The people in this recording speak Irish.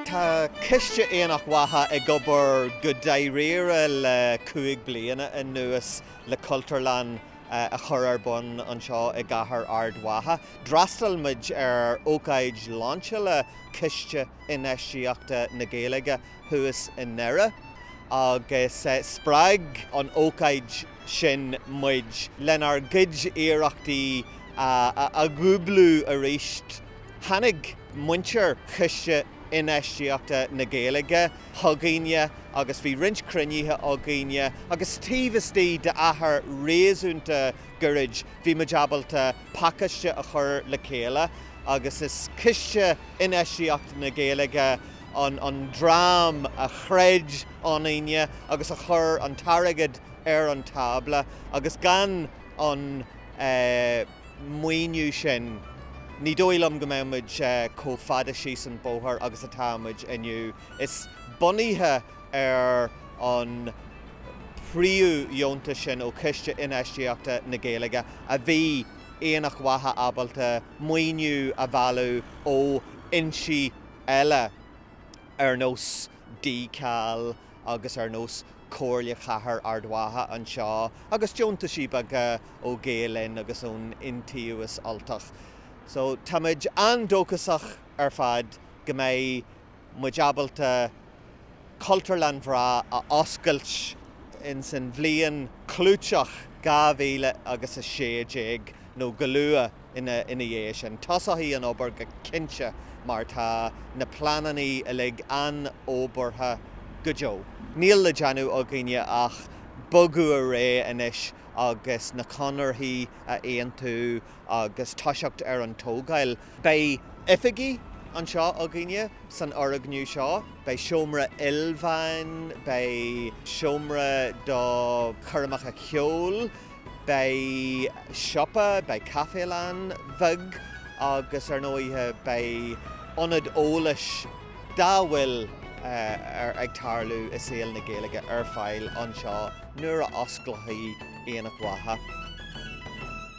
Tá Coiste Aonach Mhacha ag obair go dáiríre le cúig bliana anuas le Cultúrlann a chur ar bun anseo i gCathair Ard Mhacha. D'fhreastail muid ar ócáid láinseála Chiste Infheistíochta na Gaeilge thuas i nDoire agus spreag an ócáid sin muid lenár gcuid iarrachtaí a dhúblú arís. Tháinig muintir Chiste Infheistíochta na Gaeilge chugainne agus bhí roinnt cruinnithe againne agus taobh istigh d'achar réasúnta goirid bhí muid ábalta pacáiste a chur le chéile agus is Ciste Infheistíochta na Gaeilge an dream a chreid ionainne agus a chuir an t-airgead ar an tábla agus gan an maoiniú sin ní dóigh liom go mbeadh muid chomh fada síos an bóthar agus atá muid inniu. Is bunaithe ar an phríomhdheontas sin ó Chiste Infheistíochta na Gaeilge a bhí Aonach Mhacha ábalta maoiniú a mhealladh ó fhoinsí eile ar nós DCal agus ar nós Comhairle Chathair Ard Mhacha anseo agus deontaisí beaga ó Gael Linn agus ón Iontaobhas Ultach. So táimid an-dóchasach ar fad go mbeidh muid ábalta Cultúrlann bhreá a oscailt ins an bhliain clúiteach 2016 nó go luath ina dhiaidh sin. Tosóidh an obair go cinnte mar tá na pleanannaí uilig an-fhorbartha go deo. Níl le déanamh againne ach bogadh ar aghaidh anois agus na conarthaí a aontú agus toiseacht ar an tógáil. Beidh oifigí anseo againne san fhoirgniú seo. Beidh seomra ilmheáin, beidh seomra do choirmeacha ceoil, beidh siopa, beidh caifélann bheag agus ar ndóigh beidh ionad eolais dá bhfuil ag tarlú i saol na Gaeilge ar fáil anseo nuair a osclóchthaí Aonach Mhacha.